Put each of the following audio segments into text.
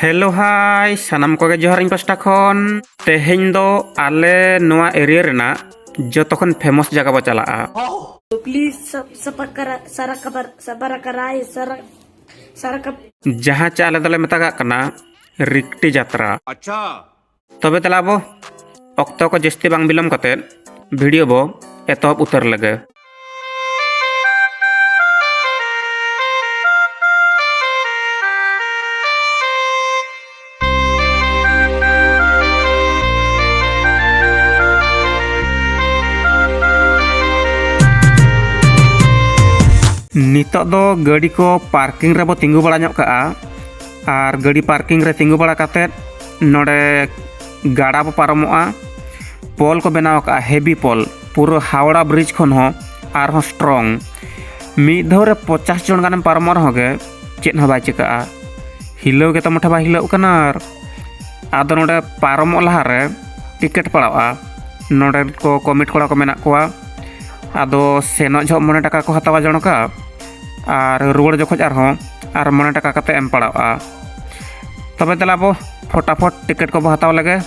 hello hi ᱥᱟᱱᱟᱢ ᱠᱚᱜᱮ ᱡᱚᱦᱟᱨ ᱤᱧ ᱯᱟᱥᱴᱟ ᱠᱷᱚᱱ ᱛᱮᱦᱮᱧ ᱫᱚ ᱟᱞᱮ ᱱᱚᱣᱟ ᱮᱨᱤᱭᱟ ᱨᱮᱱᱟᱜ ᱡᱚᱛᱚ ᱠᱷᱚᱱ ᱯᱷᱮᱢᱚᱥ ᱡᱟᱭᱜᱟ ᱵᱚ ᱪᱟᱞᱟᱜᱼᱟ ᱯᱞᱤᱡ ᱥᱟᱵᱟᱨ ᱠᱟᱨᱟᱭ ᱥᱟᱵᱟᱨ ᱠᱟᱨᱟᱭ ᱡᱟᱦᱟᱸ ᱪᱮ ᱟᱞᱮ ᱫᱚᱞᱮ ᱢᱮᱛᱟᱜᱟᱜ ᱠᱟᱱᱟ ᱨᱤᱠᱴᱤ ᱡᱟᱛᱨᱟ ᱛᱚᱵᱮ ᱛᱟᱦᱞᱮ ᱟᱵᱚ ᱚᱠᱛᱚ ᱠᱚ ᱡᱟᱹᱥᱛᱤ ᱵᱟᱝ ᱵᱤᱞᱚᱢ ᱠᱟᱛᱮ ᱵᱷᱤᱰᱤᱭᱳ ᱵᱚ ᱮᱛᱚᱦᱚᱵ ᱩᱛᱟᱹᱨ ᱞᱮᱜᱮ ᱱᱤᱛᱚᱜ ᱫᱚ ᱜᱟᱹᱰᱤ ᱠᱚ ᱯᱟᱨᱠᱤᱝ ᱨᱮᱵᱚ ᱛᱤᱸᱜᱩ ᱵᱟᱲᱟ ᱧᱚᱜ ᱠᱟᱜᱼᱟ ᱟᱨ ᱜᱟᱹᱰᱤ ᱯᱟᱨᱠᱤᱝ ᱨᱮ ᱛᱤᱸᱜᱩ ᱵᱟᱲᱟ ᱠᱟᱛᱮᱫ ᱱᱚᱰᱮ ᱜᱟᱰᱟ ᱵᱚ ᱯᱟᱨᱚᱢᱚᱜᱼᱟ ᱯᱚᱞ ᱠᱚ ᱵᱮᱱᱟᱣ ᱠᱟᱜᱼᱟ ᱦᱮᱵᱤ ᱯᱚᱞ ᱯᱩᱨᱟᱹ ᱦᱟᱣᱲᱟ ᱵᱨᱤᱡᱽ ᱠᱷᱚᱱ ᱦᱚᱸ ᱟᱨᱦᱚᱸ ᱥᱴᱨᱚᱝ ᱢᱤᱫ ᱫᱷᱟᱣ ᱨᱮ ᱯᱚᱪᱟᱥ ᱡᱚᱱ ᱜᱟᱱᱮᱢ ᱯᱟᱨᱚᱢᱚᱜ ᱨᱮᱦᱚᱸ ᱜᱮ ᱪᱮᱫ ᱦᱚᱸ ᱵᱟᱭ ᱪᱤᱠᱟᱹᱜᱼᱟ ᱦᱤᱞᱟᱹᱣ ᱜᱮᱛᱚ ᱢᱚᱴᱷᱮ ᱵᱟᱭ ᱦᱤᱞᱟᱹᱜ ᱠᱟᱱᱟ ᱟᱨ ᱟᱫᱚ ᱱᱚᱰᱮ ᱯᱟᱨᱚᱢᱚᱜ ᱞᱟᱦᱟᱨᱮ ᱴᱤᱠᱤᱴ ᱯᱟᱲᱟᱜᱼᱟ ᱱᱚᱰᱮ ᱠᱚ ᱠᱚᱢᱤᱴ ᱠᱚᱲᱟ ᱠᱚ ᱢᱮᱱᱟᱜ ᱠᱚᱣᱟ ᱟᱫᱚ ᱥᱮᱱᱚᱜ ᱡᱚᱦᱚᱜ ᱢᱚᱬᱮ ᱴᱟᱠᱟ ᱠᱚ ᱦᱟᱛᱟᱣᱟ ᱡᱚᱱᱚᱠᱟ ᱟᱨ ᱨᱩᱣᱟᱹᱲ ᱡᱚᱠᱷᱚᱡ ᱟᱨᱦᱚᱸ ᱟᱨ ᱢᱚᱬᱮ ᱴᱟᱠᱟ ᱠᱟᱛᱮᱫ ᱮᱢ ᱯᱟᱲᱟᱜᱼᱟ ᱛᱚᱵᱮ ᱫᱮᱞᱟ ᱵᱚ ᱯᱷᱚᱴᱟᱯᱷᱚᱴ ᱴᱤᱠᱤᱴ ᱠᱚᱵᱚ ᱦᱟᱛᱟᱣ ᱞᱮᱜᱮ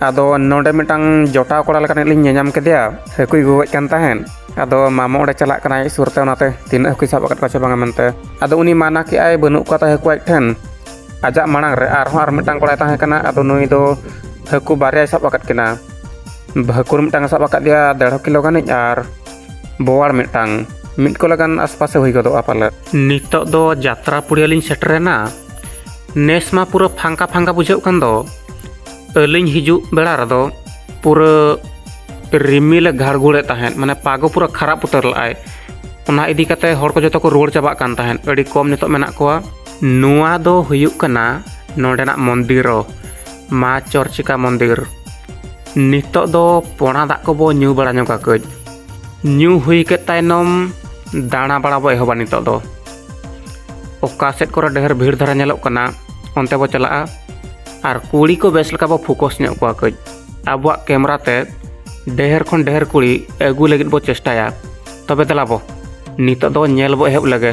ᱟᱫᱚ ᱱᱚᱰᱮ ᱢᱤᱫᱴᱟᱝ ᱡᱚᱴᱟᱣ ᱠᱚᱲᱟ ᱞᱮᱠᱟᱱᱤᱡ ᱞᱤᱧ ᱧᱮᱧᱟᱢ ᱠᱮᱫᱮᱭᱟ ᱦᱟᱹᱠᱩᱭ ᱜᱚᱜᱚᱡ ᱠᱟᱱ ᱛᱟᱦᱮᱸᱫ ᱟᱫᱚ ᱢᱟᱢᱚ ᱚᱸᱰᱮ ᱪᱟᱞᱟᱜ ᱠᱟᱱᱟᱭ ᱥᱩᱨ ᱛᱮ ᱚᱱᱟᱛᱮ ᱛᱤᱱᱟᱹᱜ ᱦᱟᱹᱠᱩᱭ ᱥᱟᱵ ᱟᱠᱟᱫ ᱠᱚᱣᱟ ᱥᱮ ᱵᱟᱝᱟ ᱢᱮᱱᱛᱮ ᱟᱫᱚ ᱩᱱᱤ ᱢᱟᱱᱟ ᱠᱮᱜᱼᱟᱭ ᱵᱟᱹᱱᱩᱜ ᱠᱚᱣᱟ ᱛᱟᱭ ᱦᱟᱹᱠᱩ ᱟᱡ ᱴᱷᱮᱱ ᱟᱡᱟᱜ ᱢᱟᱲᱟᱝ ᱨᱮ ᱟᱨᱦᱚᱸ ᱟᱨ ᱢᱤᱫᱴᱟᱝ ᱠᱚᱲᱟᱭ ᱛᱟᱦᱮᱸ ᱠᱟᱱᱟ ᱟᱫᱚ ᱱᱩᱭ ᱫᱚ ᱦᱟᱹᱠᱩ ᱵᱟᱨᱭᱟᱭ ᱥᱟᱵ ᱟᱠᱟᱫ ᱠᱤᱱᱟ ᱦᱟᱹᱠᱩ ᱢᱤᱫᱴᱟᱝ ᱥᱟᱵ ᱟᱠᱟᱫᱮᱭᱟ ᱫᱮᱲᱦᱚ ᱠᱤᱞᱳ ᱜᱟᱱᱤᱡ ᱟᱨ ᱵᱳᱣᱟᱲ ᱢᱤᱫᱴᱟᱝ ᱢᱤᱫ ᱠᱚᱞᱟ ᱜᱟᱱ ᱟᱥᱯᱟᱥᱮ ᱦᱩᱭ ᱜᱚᱫᱚᱜᱼᱟ ᱯᱟᱞᱮᱫ ᱱᱤᱛᱚᱜ ᱫᱚ ᱡᱟᱛᱨᱟ ᱯᱩᱲᱤᱭᱟᱹ ᱞᱤᱧ ᱥᱮᱴᱮᱨᱮᱱᱟ ᱱᱮᱥ ᱢᱟ ᱯᱩᱨᱟᱹ ᱯᱷᱟᱸᱠᱟ ᱯᱷᱟᱸᱠᱟ ᱵᱩᱡᱷᱟᱹᱜ ᱠᱟᱱ ᱫᱚ ᱟᱹᱞᱤᱧ ᱦᱤᱡᱩᱜ ᱵᱮᱲᱟ ᱨᱮᱫᱚ ᱯᱩᱨᱟᱹ ᱨᱤᱢᱤᱞᱮ ᱜᱷᱟᱲᱜᱷᱩᱲᱮᱫ ᱛᱟᱦᱮᱸᱫ ᱢᱟᱱᱮ ᱯᱟᱜᱚ ᱯᱩᱨᱟᱹ ᱠᱷᱟᱨᱟᱯ ᱩᱛᱟᱹᱨ ᱞᱮᱫᱟᱭ ᱚᱱᱟ ᱤᱫᱤ ᱠᱟᱛᱮ ᱦᱚᱲ ᱠᱚ ᱡᱚᱛᱚ ᱠᱚ ᱨᱩᱣᱟᱹᱲ ᱪᱟᱵᱟᱜ ᱠᱟᱱ ᱛᱟᱦᱮᱸᱫ ᱟᱹᱰᱤ ᱠᱚᱢ ᱱᱤᱛᱚᱜ ᱢᱮᱱᱟᱜ ᱠᱚᱣᱟ ᱱᱚᱣᱟ ᱫᱚ ᱦᱩᱭᱩᱜ ᱠᱟᱱᱟ ᱱᱚᱰᱮᱱᱟᱜ ᱢᱚᱱᱫᱤᱨᱚ ᱢᱟ ᱪᱚᱨᱪᱤᱠᱟ ᱢᱚᱱᱫᱤᱨ ᱱᱤᱛᱚᱜ ᱫᱚ ᱯᱚᱬᱟ ᱫᱟᱜ ᱠᱚᱵᱚ ᱧᱩ ᱵᱟᱲᱟ ᱧᱚᱜᱟ ᱠᱟᱹᱡ ᱧᱩ ᱦᱩᱭ ᱠᱮᱫ ᱛᱟᱭᱱᱚᱢ ᱫᱟᱬᱟ ᱵᱟᱲᱟ ᱵᱚ ᱮᱦᱚᱵᱟ ᱱᱤᱛᱚᱜ ᱫᱚ ᱚᱠᱟ ᱥᱮᱫ ᱠᱚᱨᱮ ᱰᱷᱮᱨ ᱵᱷᱤᱲ ᱫᱷᱟᱨᱟ ᱧᱮᱞᱚᱜ ᱠᱟᱱᱟ ᱚᱱᱛᱮ ᱵᱚ ᱪᱟᱞᱟᱜᱼᱟ ᱟᱨ ᱠᱩᱲᱤ ᱠᱚ ᱵᱮᱥ ᱞᱮᱠᱟ ᱵᱚ ᱯᱷᱳᱠᱚᱥ ᱧᱚᱜ ᱠᱚᱣᱟ ᱠᱟᱹᱡ ᱟᱵᱚᱣᱟᱜ ᱠᱮᱢᱮᱨᱟ ᱛᱮ ᱰᱷᱮᱨ ᱠᱷᱚᱱ ᱰᱷᱮᱨ ᱠᱩᱲᱤ ᱟᱹᱜᱩ ᱞᱟᱹᱜᱤᱫ ᱵᱚ ᱪᱮᱥᱴᱟᱭᱟ ᱛᱚᱵᱮ ᱫᱮᱞᱟ ᱵᱚ ᱱᱤᱛᱚᱜ ᱫᱚ ᱧᱮᱞ ᱵᱚ ᱮᱦᱚᱵ ᱞᱮᱜᱮ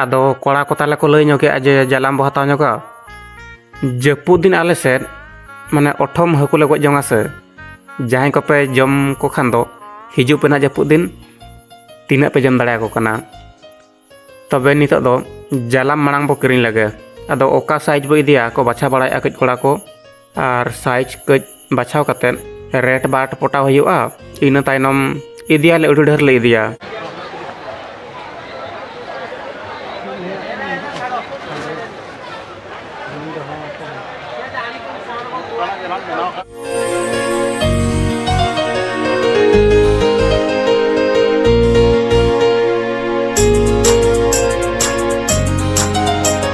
ᱟᱫᱚ ᱠᱚᱲᱟ ᱠᱚ ᱛᱟᱦᱞᱮ ᱠᱚ ᱞᱟᱹᱭ ᱧᱚᱜ ᱠᱮᱫᱼᱟ ᱡᱮ ᱡᱟᱞᱟᱢ ᱵᱚ ᱦᱟᱛᱟᱣ ᱧᱚᱜᱟ ᱡᱟᱹᱯᱩᱫ ᱫᱤᱱ ᱟᱞᱮ ᱥᱮᱫ ᱢᱟᱱᱮ ᱚᱴᱷᱚᱢ ᱦᱟᱹᱠᱩ ᱞᱮ ᱜᱚᱡ ᱡᱚᱝᱟ ᱥᱮ ᱡᱟᱦᱟᱸᱭ ᱠᱚᱯᱮ ᱡᱚᱢ ᱠᱚ ᱠᱷᱟᱱ ᱫᱚ ᱦᱤᱡᱩᱜ ᱯᱮ ᱱᱟᱜ ᱡᱟᱹᱯᱩᱫ ᱫᱤᱱ ᱛᱤᱱᱟᱹᱜ ᱯᱮ ᱡᱚᱢ ᱫᱟᱲᱮᱭᱟᱠᱚ ᱠᱟᱱᱟ ᱛᱚᱵᱮ ᱱᱤᱛᱚᱜ ᱫᱚ ᱡᱟᱞᱟᱢ ᱢᱟᱲᱟᱝ ᱵᱚ ᱠᱤᱨᱤᱧ ᱞᱮᱜᱮ ᱟᱫᱚ ᱚᱠᱟ ᱥᱟᱭᱤᱡᱽ ᱵᱚ ᱤᱫᱤᱭᱟ ᱠᱚ ᱵᱟᱪᱷᱟᱣ ᱵᱟᱲᱟᱭᱮᱫᱼᱟ ᱠᱟᱹᱡ ᱠᱚᱲᱟ ᱠᱚ ᱟᱨ ᱥᱟᱭᱤᱡᱽ ᱠᱟᱹᱡ ᱵᱟᱪᱷᱟᱣ ᱠᱟᱛᱮ ᱨᱮᱴ ᱵᱟᱴ ᱯᱚᱴᱟᱣ ᱦᱩᱭᱩᱜᱼᱟ ᱤᱱᱟᱹ ᱛᱟᱭᱱᱚᱢ ᱤᱫᱤᱭᱟᱞᱮ ᱟᱹᱰᱤ ᱰᱷᱮᱨ ᱞᱮ ᱤᱫᱤᱭᱟ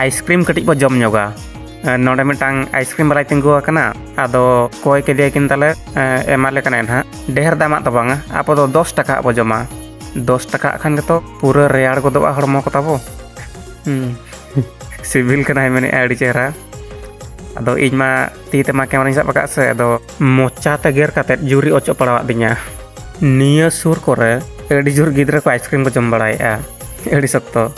ᱟᱭᱤᱥᱠᱨᱤᱢ ᱠᱟᱹᱴᱤᱡ ᱵᱚ ᱡᱚᱢ ᱧᱚᱜᱟ ᱱᱚᱰᱮ ᱢᱤᱫᱴᱟᱝ ᱟᱭᱤᱥᱠᱨᱤᱢ ᱵᱟᱞᱟᱭ ᱛᱤᱸᱜᱩ ᱟᱠᱟᱱᱟ ᱟᱫᱚ ᱠᱚᱭ ᱠᱮᱫᱮᱭᱟᱠᱤᱱ ᱛᱟᱞᱮ ᱮᱢᱟᱞᱮ ᱠᱟᱱᱟᱭ ᱱᱟᱦᱟᱜ ᱰᱷᱮᱨ ᱫᱟᱢᱟᱜ ᱫᱚ ᱵᱟᱝᱟ ᱟᱵᱚ ᱫᱚ ᱫᱚᱥ ᱴᱟᱠᱟ ᱵᱚ ᱡᱚᱢᱟ ᱫᱚᱥ ᱴᱟᱠᱟ ᱠᱷᱟᱱ ᱜᱮᱛᱚ ᱯᱩᱨᱟᱹ ᱨᱮᱭᱟᱲ ᱜᱚᱫᱚᱜᱼᱟ ᱦᱚᱲᱢᱚ ᱠᱚ ᱛᱟᱵᱚ ᱥᱤᱵᱤᱞ ᱠᱟᱱᱟᱭ ᱢᱮᱱᱮᱫᱼᱟ ᱟᱹᱰᱤ ᱪᱮᱦᱨᱟ ᱟᱫᱚ ᱤᱧ ᱢᱟ ᱛᱤ ᱛᱮᱢᱟ ᱠᱮᱢᱮᱨᱟᱧ ᱥᱟᱵ ᱟᱠᱟᱫ ᱥᱮ ᱟᱫᱚ ᱢᱚᱪᱟ ᱛᱮ ᱜᱮᱨ ᱠᱟᱛᱮᱫ ᱡᱩᱨᱤ ᱚᱪᱚᱜ ᱯᱟᱲᱟᱣᱟᱫ ᱫᱤᱧᱟ ᱱᱤᱭᱟᱹ ᱥᱩᱨ ᱠᱚᱨᱮ ᱟᱹᱰᱤ ᱡᱳᱨ ᱜᱤᱫᱽᱨᱟᱹ ᱠᱚ ᱟᱭᱤᱥᱠᱨᱤᱢ ᱠᱚ ᱡᱚᱢ ᱵᱟᱲᱟᱭᱮᱫᱼᱟ ᱟᱹᱰᱤ ᱥᱚᱠᱛᱚ